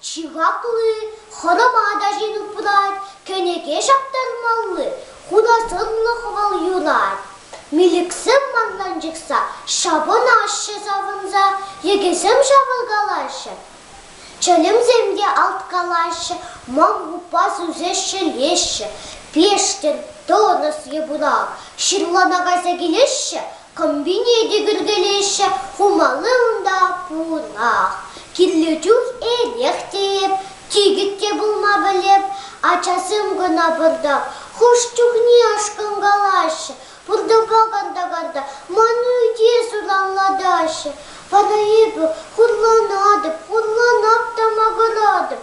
Чи хакли, хӑрӑма ачин упрать, кӗнеке ҫаптармалли, хунасӑрлӑ хӑвӑл юнать. Милӗксем манран чӑтса, ҫапӑнаҫҫӗ савӑнса, йӗкӗсем ҫавӑркалаҫҫӗ. Чӗлӗмсем те алткалаҫҫӗ, мангупа сӳсеҫҫӗ-леҫҫӗ. Пештӗр, тӑрӑс, йӑпунак, ҫырлана кайса килеҫҫӗ, Комбине те кӳркелеҫҫӗ, хумалли унта пурах. Кирлӗ чух эрех тейӗп, чикӗт те пулма пӗлеп. Ачасем кӑна пӑртак хӑш чухне ашкӑнкалаҫҫӗ, пуртӑпа карта-карта ман ӳте суранлатаҫҫӗ. Вара эпӗ хурланатӑп, хурланап та макӑратӑп.